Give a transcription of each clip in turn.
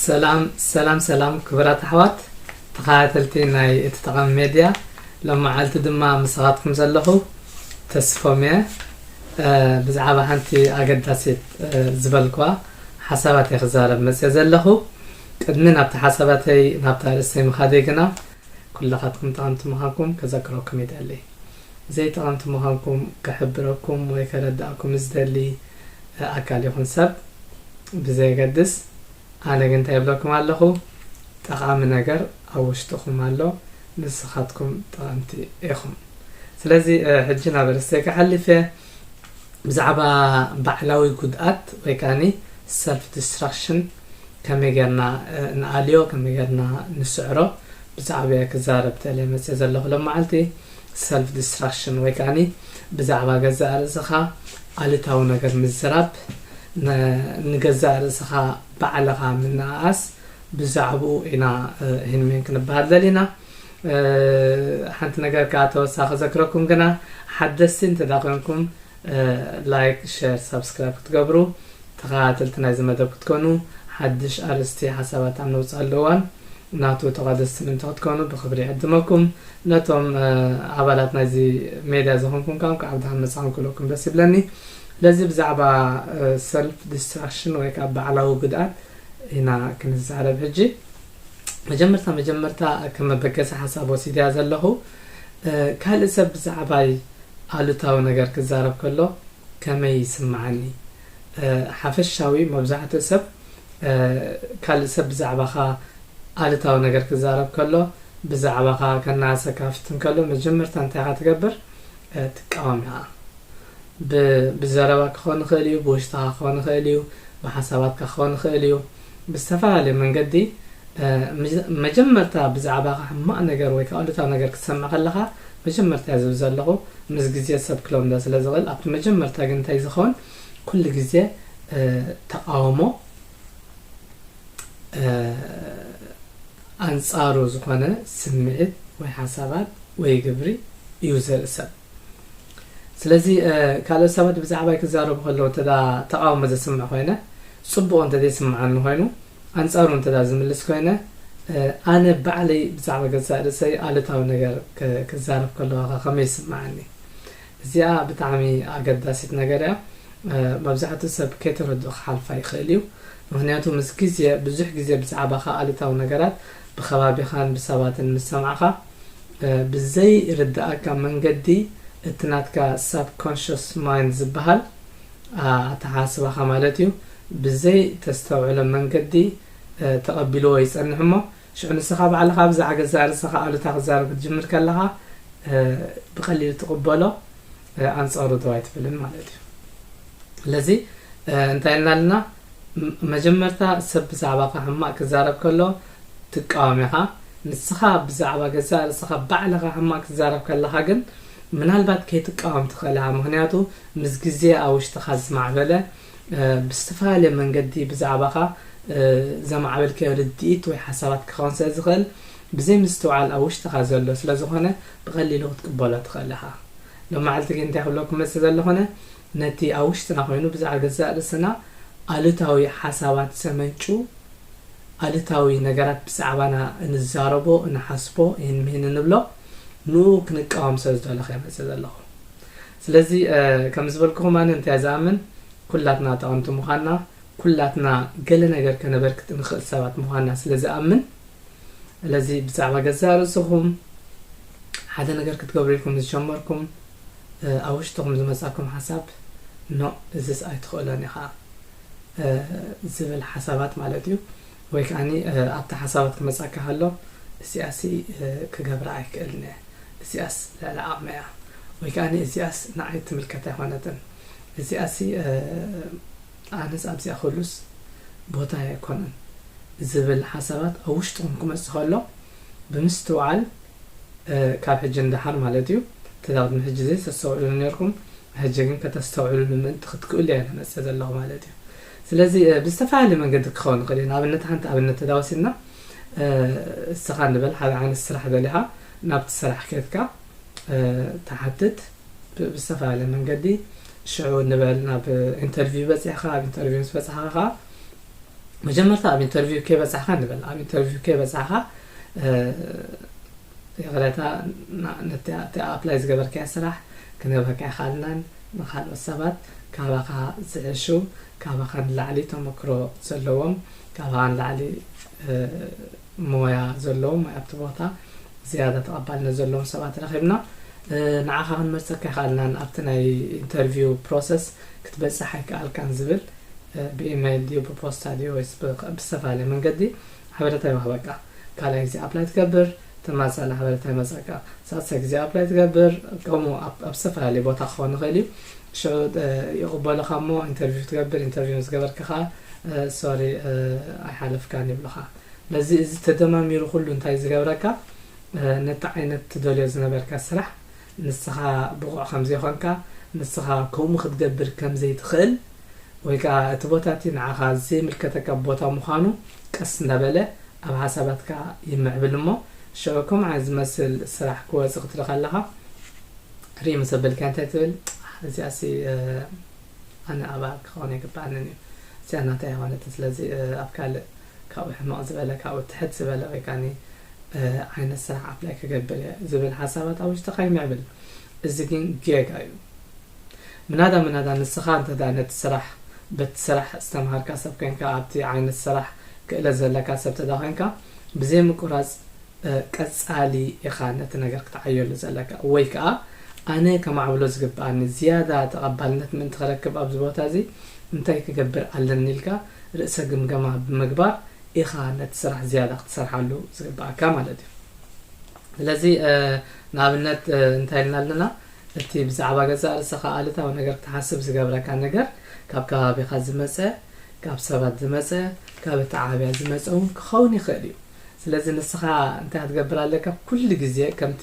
ሰላም ሰላም ሰላም ክብራት ኣሕዋት ተኻታተልቲ ናይ እቲ ጠቐሚ ሜድያ ሎማዓልቲ ድማ ምሳኻትኩም ዘለኹ ተስፎም እየ ብዛዕባ ሓንቲ ኣገዳሲት ዝበልክዋ ሓሳባት እየ ክዛረብ መፅየ ዘለኹ ቅድሚ ናብቲ ሓሳባተይ ናብታ ርእሰይ ምኻደይ ግና ኩላኻትኩም ጠቐምቲ ምዃንኩም ከዘክረኩም ይደሊ ዘይጠቐምቲ ምዃንኩም ክሕብረኩም ወይ ከረድኣኩም ዝደሊ ኣካል ይኹን ሰብ ብዘየገድስ፣ ኣነ ግን እንታይ እብለኩም ኣለኹ፣ ጠቓሚ ነገር ኣብ ውሽጥኹም ኣሎ፣ ንስኻትኩም ጠቐምቲ ኢኹም። ስለዚ ሕጂ ናብ ኣርእስተይ ክሓልፍ እየ፣ ብዛዕባ ባዕላዊ ጉድኣት ወይ ከኣኒ ሰልፍ ዲስትራክሽን ከመይ ጌርና ንኣልዮ፣ ከመይ ጌርና ንስዕሮ ብዛዕባኡ እየ ክዛረብ ተልየ መጺኤ ዘለኹ ሎማዓልቲ። ሰልፍ ድስትራክሽን ወይ ከኣኒ ብዛዕባ ገዛእ ርእስኻ ኣሉታዊ ነገር ምዝራብ፣ ንገዛእ ርእስኻ ባዕልኻ ምንእኣስ፣ ብዛዕብኡ ኢና እሂን ምሂን ክንበሃል ደሊና። ሓንቲ ነገር ከኣ ተወሳኺ ክዘክረኩም ግና ሓደስቲ እንተደኣ ኮንኩም ላይክ ሸር ሳብስክራይብ ክትገብሩ ተከታተልቲ ናይዚ መደብ ክትኮኑ ሓድሽ ኣርእስቲ ሓሳባት ኣብ ነውጽኣሉ እዋን ናቱ ተቃደስቲ ምእንቲ ክትኮኑ ብክብሪ ይዕድመኩም ነቶም ኣባላት ናይዚ ሜድያ ዝኮንኩም ከኣ እንቋዕ ብድሓን መጻኩም ክብለኩም ደስ ይብለኒ ስለዚ ብዛዕባ ሰልፍ ዲስትራክሽን ወይ ከኣ ባዕላዊ ጉድኣት ኢና ክንዛረብ ሕጂ መጀመርታ መጀመርታ ከም መበገሲ ሓሳብ ወሲድያ ዘለኩ ካልእ ሰብ ብዛዕባይ ኣሉታዊ ነገር ክዛረብ ከሎ ከመይ ይስምዓኒ ሓፈሻዊ መብዛሕትኡ ሰብ ካልእ ሰብ ብዛዕባኻ ኣሉታዊ ነገር ክዛረብ ከሎ ብዛዕባኻ ከናኣሰካ ፍትን ከሎ መጀመርታ እንታይ ኢኻ ትገብር ትቃወም ኢኻ ብዘረባ ክኾን ይኽእል እዩ ብውሽጥኻ ክኾን ይኽእል እዩ ብሓሳባትካ ክኾን ይኽእል እዩ ብዝተፈላለየ መንገዲ መጀመርታ ብዛዕባኻ ሕማቕ ነገር ወይ ከኣ ኣሉታዊ ነገር ክትሰምዕ ከለኻ መጀመርታ እየ ዝብል ዘለኹ ምስ ግዜ ሰብ ክለምዶ ስለ ዝኽእል ኣብቲ መጀመርታ ግን እንታይ ዝኸውን ኩሉ ግዜ ተቓውሞ ኣንጻሩ ዝኾነ ስምዒት ወይ ሓሳባት ወይ ግብሪ እዩ ዘርኢ ሰብ ስለዚ ካልኦት ሰባት ብዛዕባይ ክዛረቡ ከለዉ እንተ ተቓውሞ ዘስምዕ ኮይነ ጽቡቕ እንተ ዘይስምዓኒ ኮይኑ ኣንጻሩ እንተ ዝምልስ ኮይነ ኣነ ባዕለይ ብዛዕባ ገዛእ ርእሰይ ኣሉታዊ ነገር ክዛረብ ከለኹኸ ከመይ ይስምዓኒ? እዚኣ ብጣዕሚ ኣገዳሲት ነገር እያ መብዛሕትኡ ሰብ ከይተረድኦ ክሓልፋ ይኽእል እዩ ምኽንያቱ ምስ ግዜ ብዙሕ ግዜ ብዛዕባኻ ኣሉታዊ ነገራት ብከባቢኻን ብሰባትን ምስ ሰማዕኻ ብዘይርድኣካ መንገዲ እቲ ናትካ ሳብ ኮንሸስ ማይንድ ዝበሃል ኣተሓሳስባኻ ማለት እዩ ብዘይ ተስተውዕሎ መንገዲ ተቐቢልዎ ይጸንሕ እሞ ሽዑ ንስኻ ባዕልኻ ብዛዕባ ገዛእ ርእሰኻ ኣሉታ ክዛረብ ክትጅምር ከለኻ ብቐሊሉ ትቕበሎ ኣንጻሩ ደው ኣይትብልን ማለት እዩ ስለዚ እንታይ ኢልና ኣለና መጀመርታ ሰብ ብዛዕባኻ ሕማቕ ክዛረብ ከሎ ትቃወም ኢኻ ንስኻ ብዛዕባ ገዛእ ርእሰኻ ባዕልኻ ሕማቕ ክትዛረብ ከለኻ ግን ምናልባት ከይትቃወም ትኽእል ኢኻ ምክንያቱ ምስ ግዜ ኣብ ውሽጥኻ ዝማዕበለ ብዝተፈላለየ መንገዲ ብዛዕባኻ ዘማዕበልካዮ ርድኢት ወይ ሓሳባት ክኸውን ስለ ዝኽእል፣ ብዘይ ምስትውዓል ኣብ ውሽጥኻ ዘሎ ስለ ዝኾነ ብቐሊሉ ክትቅበሎ ትኽእል ኢኻ። ሎማዕልቲ ግን እንታይ ክብለኩም ክመጽእ ዘለኹነ ነቲ ኣብ ውሽጥና ኮይኑ ብዛዕባ ገዛእ ርእስና ኣሉታዊ ሓሳባት ዘመንጩ ኣሉታዊ ነገራት ብዛዕባና እንዛረቦ እንሓስቦ ይህን ምሂን እንብሎ ንኡ ክንቃወም ስለ ዝደለኹ እየ መጽእ ዘለኹ። ስለዚ ከም ዝበልኩኹም ኣነ እንታይ ዝኣምን ኩላትና ጠቐምቲ ምዃንና ኩላትና ገለ ነገር ከነበርክት እንኽእል ሰባት ምዃንና ስለ ዝኣምን ስለዚ ብዛዕባ ገዛእ ርእስኹም ሓደ ነገር ክትገብሩ ኢልኩም ዝጀመርኩም ኣብ ውሽጥኹም ዝመጻኩም ሓሳብ ኖ እዝስ ኣይትኽእሎን ኢኻ ዝብል ሓሳባት ማለት እዩ ወይ ከኣኒ ኣብቲ ሓሳባት ክመጻካ ከሎ እዚኣሲ ክገብራ ኣይክእልን እየ፣ እዚኣስ ልዕሊ ዓቕመይ እያ፣ ወይ ከኣኒ እዚኣስ ንዓይ ትምልከት ኣይኮነትን፣ እዚኣሲ ኣነስ ኣብዚኣ ክህሉስ ቦታይ ኣይኮነን ዝብል ሓሳባት ኣብ ውሽጥኹም ክመጽእ ከሎ ብምስትውዓል ካብ ሕጂ ንደሓር ማለት እዩ እቲ ቅድሚ ሕጂ ዘይተስተውዕልሉ ኔርኩም ሕጂ ግን ከተስተውዕልሉ ምእንቲ ክትክእሉ እየ ዝመጽእ ዘለኹ ማለት እዩ ስለዚ ብዝተፈላለየ መንገዲ ክኸውን ይኽእል እዩ ንኣብነት ሓንቲ ኣብነት ተዳወሲድና እስኻ ንበል ሓደ ዓይነት ስራሕ ደሊኻ ናብቲ ስራሕ ኬትካ ትሓትት ብዝተፈላለየ መንገዲ ሽዑ ንበል ናብ ኢንተርቪው በፂሕኻ ኣብ ኢንተርቪው ምስ በፃሕኻ ከዓ መጀመርታ ኣብ ኢንተርቪው ከይበፃሕኻ ንበል ኣብ ኢንተርቪው ከይበፃሕኻ ይቕሬታ ነቲ ኣፕላይ ዝገበርካዮ ስራሕ ክንህበካ ኣይከኣልናን። ንኻልኦት ሰባት ካባኻ ዝሕሹ፣ ካባኻ ንላዕሊ ተመክሮ ዘለዎም፣ ካባኻ ንላዕሊ ሞያ ዘለዎም ወይ ኣብቲ ቦታ ዝያዳ ተቐባልነት ዘለዎም ሰባት ረኺብና ንዓኻ ክንመርጸካ ኣይከኣልናን፣ ኣብቲ ናይ ኢንተርቪው ፕሮሰስ ክትበጽሕ ኣይከኣልካን ዝብል ብኢመይል ድዩ ብፖስታ ድዩ ወይስ ብዝተፈላለየ መንገዲ ሓበረታ ይወሃበካ ካልኣይ ግዜ ኣፕላይ ትገብር ተማሳሊ ሓበረታ ይመጻካ ሳልሳይ ግዜ ኣፕላይ ትገብር ከምኡ ኣብ ዝተፈላለየ ቦታ ክኸውን ይኽእል እዩ ሽዑ ይቕበሉኻ እሞ ኢንተርቪው ትገብር ኢንተርቪው ምስ ገበርካ ከዓ ሶሪ ኣይሓለፍካን ይብሉኻ ነዚ እዚ ተደማሚሩ ኩሉ እንታይ ዝገብረካ ነቲ ዓይነት ትደልዮ ዝነበርካ ስራሕ ንስኻ ብቑዕ ከም ዘይኮንካ፣ ንስኻ ከምኡ ክትገብር ከም ዘይትኽእል፣ ወይ ከኣ እቲ ቦታ እቲ ንዓኻ ዘይምልከተካ ቦታ ምዃኑ ቀስ እንዳበለ ኣብ ሓሳባትካ ይምዕብል እሞ፣ ሽዑ ከምኡ ዓይነት ዝመስል ስራሕ ክወጽእ ክትርኢ ከለኻ ርእይ ምስ ኣበልካዮ እንታይ ትብል፣ ኣሕ እዚኣሲ ኣነ ኣብኣ ክኸውን ኣይግብኣንን እዩ፣ እዚኣ ናተይ ኣይኮነትን፣ ስለዚ ኣብ ካልእ ካብኡ ሕምቕ ዝበለ ካብኡ ትሕት ዝበለ ወይ ከኣኒ ዓይነት ስራሕ ኣፕላይ ክገብር እየ ዝብል ሓሳባት ኣብ ውሽጥኻ ይምዕብል እዚ ግን ጌጋ እዩ ምናዳ ምናዳ ንስኻ እንተድኣ ነቲ ስራሕ በቲ ስራሕ ዝተምሃርካ ሰብ ኮንካ ኣብቲ ዓይነት ስራሕ ክእለት ዘለካ ሰብ እንተድኣ ኮንካ ብዘይ ምቁራጽ ቀጻሊ ኢኻ ነቲ ነገር ክትዓየሉ ዘለካ ወይ ከኣ ኣነ ከማዕብሎ ዝግብኣኒ ዝያዳ ተቐባልነት ምእንቲ ክረክብ ኣብዚ ቦታ እዚ እንታይ ክገብር ኣለኒ ኢልካ ርእሰ ግምገማ ብምግባር ኢኻ ነቲ ስራሕ ዝያዳ ክትሰርሓሉ ዝግበኣካ ማለት እዩ። ስለዚ ንኣብነት እንታይ ኢልና ኣለና እቲ ብዛዕባ ገዛእ ርእሰኻ ኣሉታዊ ነገር ክትሓስብ ዝገብረካ ነገር ካብ ከባቢኻ ዝመጸ፣ ካብ ሰባት ዝመጸ፣ ካብ ኣተዓባብያ ዝመጸ እውን ክኸውን ይኽእል እዩ። ስለዚ ንስኻ እንታይ ክትገብር ኣለካ ኩሉ ግዜ ከምቲ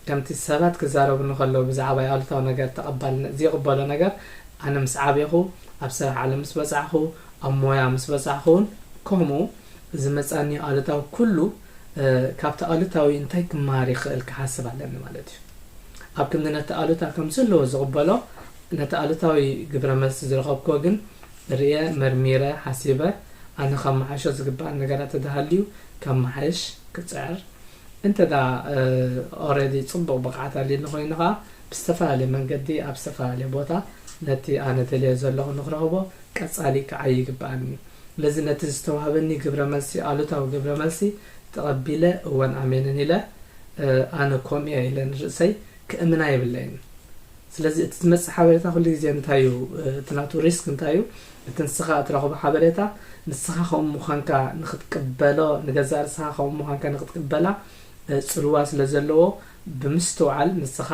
ከምቲ ሰባት ክዛረቡኒ ከለዉ ብዛዕባይ ኣሉታዊ ነገር ተቐባልነት ዝይቕበሎ ነገር ኣነ ምስ ዓቤኹ ኣብ ስራሕ ዓለም ምስ በጻሕኹ ኣብ ሞያ ምስ በጻሕኹ ውን ከምኡ ዝመጻኒ ኣሉታዊ ኩሉ ካብቲ ኣሉታዊ እንታይ ክመሃር ይኽእል ክሓስብ ኣለኒ ማለት እዩ ኣብ ክንዲ ነቲ ኣሉታ ከም ዘለዎ ዝቕበሎ ነቲ ኣሉታዊ ግብረ መልሲ ዝረኸብክዎ ግን ርእየ መርሚረ ሓሲበ ኣነ ከመሓይሾ ዝግበኣኒ ነገራት ተተሃልዩ ከመሓይሽ ክጽዕር እንተ ኦረዲ ጽቡቕ ብቕዓት ኣልዩኒ ኮይኑ ከኣ ብዝተፈላለየ መንገዲ ኣብ ዝተፈላለየ ቦታ ነቲ ኣነ ደልዮ ዘለኹ ንክረኽቦ ቀጻሊ ክዓዪ ይግብኣኒ እዩ። ስለዚ ነቲ ዝተዋህበኒ ግብረ መልሲ ኣሉታዊ ግብረ መልሲ ተቐቢለ እወን ኣሜንን ኢለ ኣነ ከምኡ'የ ኢለ ንርእሰይ ክእምና የብለይን። ስለዚ እቲ ዝመጽእ ሓበሬታ ኩሉ ግዜ እንታይ እዩ እቲ ናቱ risk እንታይ እዩ እቲ ንስኻ እትረኽቦ ሓበሬታ ንስኻ ከምኡ ምዃንካ ንክትቅበሎ ንገዛእ ርእስኻ ከምኡ ምዃንካ ንክትቅበላ ጽልዋ ስለ ዘለዎ ብምስትውዓል ንስኻ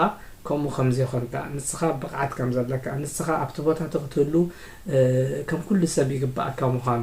ከምኡ ከም ዘይኮንካ ንስኻ ብቕዓት ከም ዘለካ ንስኻ ኣብቲ ቦታ እቲ ክትህሉ ከም ኩሉ ሰብ ይግብኣካ ምዃኑ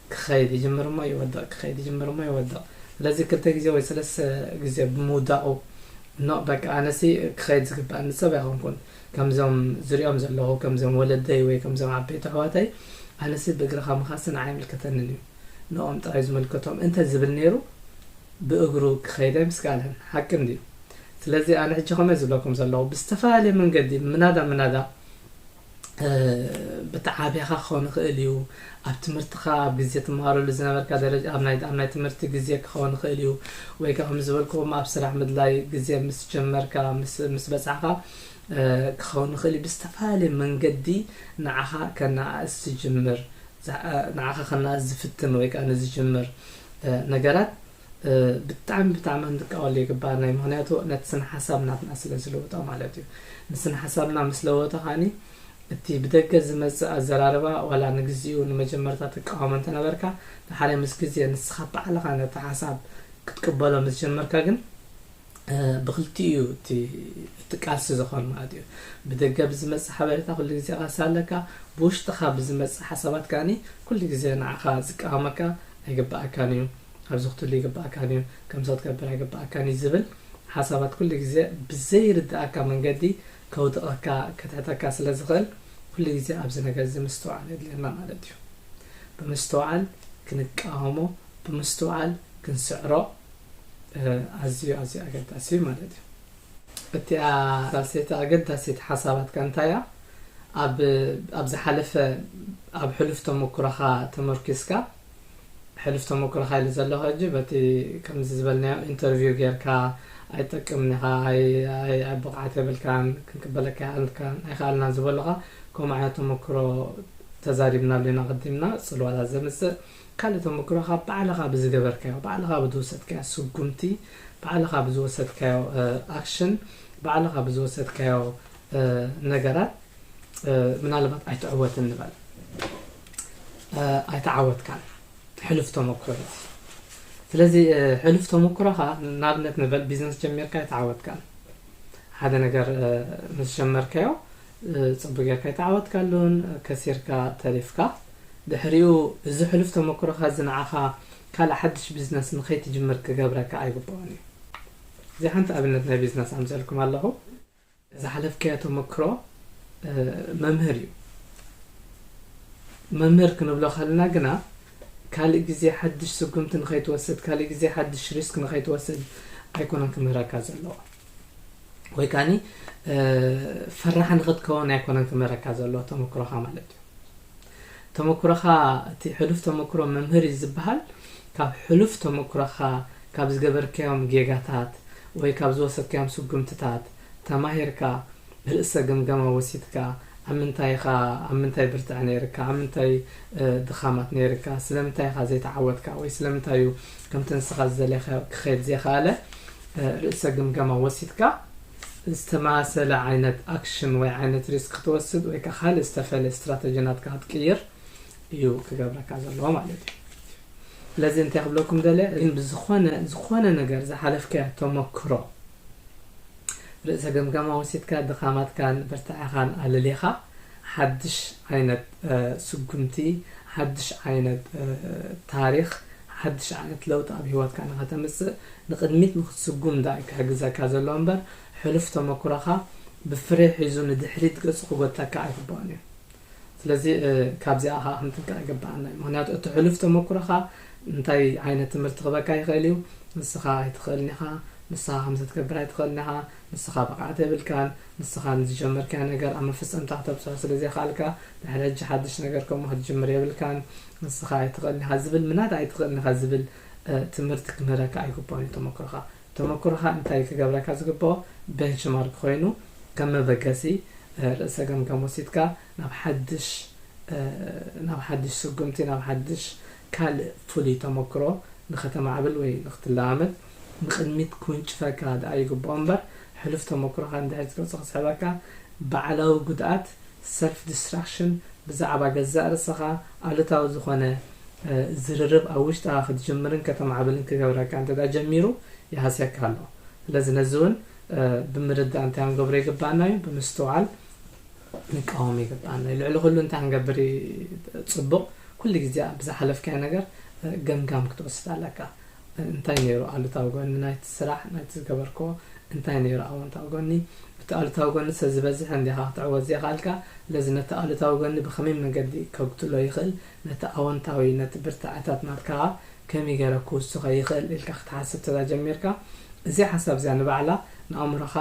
ክኸይድ ይጅምር እሞ ይወድቕ፣ ክኸይድ ይጅምር እሞ ይወድቕ። ስለዚ ክልተ ግዜ ወይ ሰለስተ ግዜ ብምውዳቑ ኖእ በቃ ኣነሲ ክኸይድ ዝግብኣኒ ሰብ ኣይኮንኩን፣ ከምዞም ዝሪኦም ዘለኹ ከምዞም ወለደይ ወይ ከምዞም ዓበይቲ ኣሕዋተይ ኣነሲ ብእግርኻ ምኻድሲ ንዓይ ኣይምልከተንን እዩ ንኦም ጥራይ ዝምልከቶም እንተ ዝብል ነይሩ ብእግሩ ክኸይድ ኣይምስከኣለን። ሓቂ እንድዩ። ስለዚ ኣነ ሕጂ ከምኡ እየ ዝብለኩም ዘለኹ ብዝተፈላለየ መንገዲ ምናዳ ምናዳ ብተዓብኻ ክኸውን ይኽእል እዩ ኣብ ትምህርትኻ ኣብ ግዜ ትመሃረሉ ዝነበርካ ደረጃ ኣብ ናይ ኣብ ናይ ትምህርቲ ግዜ ክኸውን ይኽእል እዩ ወይ ከዓ ከም ዝበልክዎም ኣብ ስራሕ ምድላይ ግዜ ምስ ጀመርካ ምስ በፃዕኻ ክኸውን ይኽእል እዩ ብዝተፈላለየ መንገዲ ንዓኻ ከነኣእስ ዝጅምር ንዓኻ ከነኣእስ ዝፍትን ወይ ከዓ ንዝጅምር ነገራት ብጣዕሚ ብጣዕሚ ክንጥቀመሉ ይግባእ ናይ ምክንያቱ ነቲ ስነ ሓሳብ ናትና ስለ ዝልውጦ ማለት እዩ ንስነ ሓሳብና ምስ ለወጦ ካኒ እቲ ብደገ ዝመጽእ ኣዘራርባ ዋላ ንግዚኡ ንመጀመርታ ትቃወሞ እንተነበርካ ድሓረ ምስ ግዜ ንስኻ ባዕልኻ ነቲ ሓሳብ ክትቅበሎ ምስ ጀመርካ ግን ብክልቲኡ እዩ እቲ እቲ ቃልሲ ዝኾን ማለት እዩ ብደገ ብዝመጽእ ሓበሬታ ኩሉ ግዜ ቃልሲ ኣለካ ብውሽጥኻ ብዝመጽእ ሓሳባት ከዓኒ ኩሉ ግዜ ንዓኻ ዝቃወመካ ኣይግባኣካን እዩ ኣብዚ ክትህሉ ይግበኣካ ኔሩ ከምዚ ክትገብር ኣይግበኣካን እዩ ዝብል ሓሳባት ኩሉ ግዜ ብዘይርደኣካ መንገዲ ከውድቐካ ከትሕተካ ስለ ዝኽእል ኩሉ ግዜ ኣብዚ ነገር እዚ ምስትውዓል የድልየና ማለት እዩ ብምስትውዓል ክንቃወሞ ብምስትውዓል ክንስዕሮ ኣዝዩ ኣዝዩ ኣገዳሲ እዩ ማለት እዩ እቲኣ ራልሴቲ ኣገዳሲት ሓሳባትካ እንታይ እያ ኣብ ኣብ ዝሓለፈ ኣብ ሕሉፍ ተመኩሮኻ ተመርኪስካ ሕሉፍ ተመክሮኻ ኢለ ዘለኹ ሕጂ በቲ ከምዚ ዝበልናዮ ኢንተርቪው ጌርካ ኣይትጠቅምን ኢኻ ኣይ ብቕዓት የብልካን ክንቅበለካ ኣይኣልካን ኣይክኣልናን ዝበሉኻ ከምኡ ዓይነት ተመክሮ ተዛሪብናሉ ኢና ቅዲምና ጽልዋታት ዘምጽእ ካልእ ተመክሮኻ ባዕልኻ ብዝገበርካዮ ባዕልኻ ብዝወሰድካዮ ስጉምቲ ባዕልኻ ብዝወሰድካዮ ኣክሽን ባዕልኻ ብዝወሰድካዮ ነገራት ምናልባት ኣይትዕወትን ንበል ኣይተዓወትካን ሕሉፍ ተመኩሮ እዩ ስለዚ ሕሉፍ ተመኩሮኻ ንኣብነት ንበል ቢዝነስ ጀሚርካ ኣይተዓወትካን ሓደ ነገር ምስ ጀመርካዮ ፅቡቅ ጌርካ ኣይተዓወትካሉን ከሲርካ ተሪፍካ ድሕሪኡ እዚ ሕሉፍ ተመኩሮኻ እዚ ንዓኻ ካልእ ሓድሽ ቢዝነስ ንኸይትጅምር ክገብረካ ኣይግብኦን እዩ እዚ ሓንቲ ኣብነት ናይ ቢዝነስ ኣምፅእልኩም ኣለኹ ዝሓለፍካዮ ተመክሮ መምህር እዩ። መምህር ክንብሎ ከለና ግና ካልእ ግዜ ሓድሽ ስጉምቲ ንኸይትወስድ ካልእ ግዜ ሓድሽ ሪስክ ንኸይትወስድ ኣይኮነን ክምህረካ ዘለዎ ወይ ካኒ ፈራሕ ንኽትከውን ኣይኮነን ክምህረካ ዘለዎ ተመክሮኻ ማለት እዩ። ተመኩሮኻ እቲ ሕሉፍ ተመኩሮ መምህር እዩ ዝብሃል ካብ ሕሉፍ ተመኩሮኻ ካብ ዝገበርካዮም ጌጋታት ወይ ካብ ዝወሰድካዮም ስጉምትታት ተማሂርካ ርእሰ ግምገማ ወሲድካ ኣብ ምንታይ ኢኻ ኣብ ምንታይ ብርትዐ ነይርካ ኣብ ምንታይ ድኻማት ነይርካ ስለምንታይ ኢኻ ዘይተዓወትካ ወይ ስለምንታይ እዩ ከምቲ ንስኻ ዝደለኻዮ ክኸይድ ዘይኸኣለ ርእሰ ግምገማ ወሲድካ ዝተመሳሰለ ዓይነት ኣክሽን ወይ ዓይነት ሪስክ ክትወስድ ወይ ከ ካልእ ዝተፈለየ ስትራተጂ ናትካ ክትቅይር እዩ ክገብረካ ዘለዎ ማለት እዩ ስለዚ እንታይ ክብለኩም ደለ ግን ብዝኾነ ዝኾነ ነገር ዝሓለፍካዮ ተመክሮ ርእሰ ገምጋማ ወሲድካ ድኻማትካን ብርታዐኻን ኣለሊኻ ሓድሽ ዓይነት ስጉምቲ፣ ሓድሽ ዓይነት ታሪኽ፣ ሓድሽ ዓይነት ለውጢ ኣብ ህይወትካ ንኸተምጽእ፣ ንቕድሚት ንኽትስጉም ደኣ እዩ ክሕግዘካ ዘለዎ እምበር፣ ሕሉፍ ተመኩሮኻ ብፍሬ ሒዙ ንድሕሪት ገጹ ክጎትተካ ኣይግብኦን እዩ። ስለዚ ካብዚኣ ከኣ ክንጥንቀቕ ይግብኣና እዩ። ምኽንያቱ እቲ ሕሉፍ ተመኩሮኻ እንታይ ዓይነት ትምህርቲ ክህበካ ይኽእል እዩ፣ ንስኻ ኣይትኽእልን ኢኻ፣ ንስኻ ከምዚ ክትገብር ኣይትኽእልን ኢኻ፣ ንስኻ ብቕዓት የብልካን፣ ንስኻ ንዝጀመርካዮ ነገር ኣብ መፈጸምታ ክተብጽሖ ስለ ዘይከኣልካ፣ ድሕሪ ሕጂ ሓድሽ ነገር ከምኡ ክትጅምር የብልካን። ንስኻ ኣይትኽእልን ኢኻ ዝብል ምናዳ ኣይትኽእልን ኢኻ ዝብል ትምህርቲ ክምህረካ ኣይግብኦን እዩ ተመክሮኻ። ተመክሮኻ እንታይ እዩ ክገብረካ ዝግብኦ ቤንችማርክ ኮይኑ ከም መበገሲ ርእሰ ገምጋም ወሲድካ ናብ ሓድሽ ናብ ሓድሽ ስጉምቲ ናብ ሓድሽ ካልእ ፍሉይ ተመክሮ ንኸተማዕብል ወይ ንኽትለማመድ ንቕድሚት ክውንጭፈካ ደኣ ይግብኦ እምበር፣ ሕሉፍ ተመክሮኻ ንድሕሪት ዝገጹ ክስሕበካ፣ ባዕላዊ ጉድኣት፣ ሰልፍ ዲስትራክሽን፣ ብዛዕባ ገዛእ ርእሰኻ ኣሉታዊ ዝኾነ ዝርርብ ኣብ ውሽጥኻ ክትጅምርን ከተማዕብልን ክገብረካ እንተደኣ ጀሚሩ ይሃስየካ ኣሎ። ስለዚ ነዚ እውን ብምርዳእ እንታይ ክንገብሮ ይግብኣና እዩ? ብምስትውዓል ክንቃወም ይግብኣና እዩ። ልዕሊ ኩሉ እንታይ ክንገብር እዩ ጽቡቕ? ኩሉ ግዜ ኣብ ዝሓለፍካዮ ነገር ገምጋም ክትወስድ ኣለካ። እንታይ ነይሩ ኣሉታዊ ጎኒ ናይቲ ስራሕ ናይቲ ዝገበርክዎ እንታይ ነይሩ ኣወንታዊ ጎኒ እቲ ኣሉታዊ ጎኒ ሰብ ዝበዝሐ እንዲኻ ክትዕወት ዘይኻልካ ለዚ ነቲ ኣሉታዊ ጎኒ ብኸመይ መገዲ ከጉድሎ ይኽእል ነቲ ኣወንታዊ ነቲ ብርታዐታት ናትካ ከመይ ገይረ ክውስኸ ይኽእል ኢልካ ክትሓስብ ተዛጀሚርካ እዚ ሓሳብ እዚኣ ንባዕላ ንኣእምሮኻ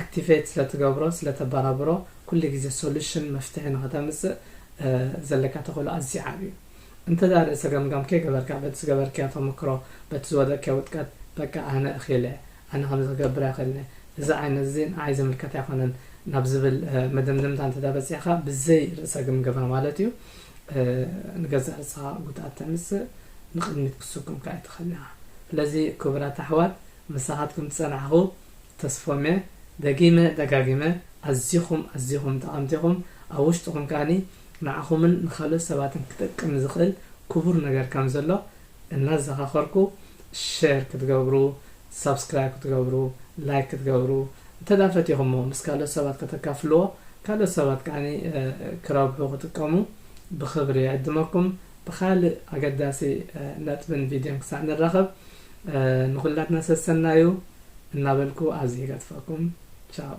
ኣክቲቬት ስለ ትገብሮ ስለ ተባራብሮ ኩሉ ግዜ ሶሉሽን መፍትሒ ንኸተምጽእ ዘለካ ተኽእሎ ኣዝዩ ዓቢ እዩ። እንተ ርእሰ ገምጋም ከይገበርካ በቲ ዝገበርክዮ ተመክሮ በቲ ዝወደቅክዮ ውድቀት በቃ ኣነ እኽኢለ ኣነ ከምዚ ክገብር ኣይኽእልነ እዚ ዓይነት እዚ ንዓይ ዝምልከት ኣይኮነን ናብ ዝብል መደምደምታ እንተ በጺሕካ ብዘይ ርእሰ ግምገማ ማለት እዩ ንገዛእ ርእስኻ ጉድኣት ተምጽእ ንቕድሚት ክትስጉም ከኣ ኣይትኽእልን ኢኻ። ስለዚ ክቡራት ኣሕዋት ምሳኻትኩም ዝጸናሕኹ ተስፎምየ ደጊመ ደጋጊመ ኣዚኹም ኣዚኹም ጠቐምቲ ኢኹም ኣብ ውሽጥኹም ከኣ ንዓኹምን ንኻልኦት ሰባትን ክጠቅም ዝኽእል ኩቡር ነገር ከም ዘሎ እናዘኻኸርኩ ሸር ክትገብሩ ሳብስክራይብ ክትገብሩ ላይክ ክትገብሩ እንተ ድኣ ፈቲኹሞ ምስ ካልኦት ሰባት ከተካፍልዎ ካልኦት ሰባት ከኣ ክረብሑ ክጥቀሙ ብኽብሪ ይዕድመኩም ብኻልእ ኣገዳሲ ነጥብን ቪድዮን ክሳዕ ንራኸብ ንኹላትና ሰሰናዩ እናበልኩ ኣብዚ ይገድፈኩም። ቻው።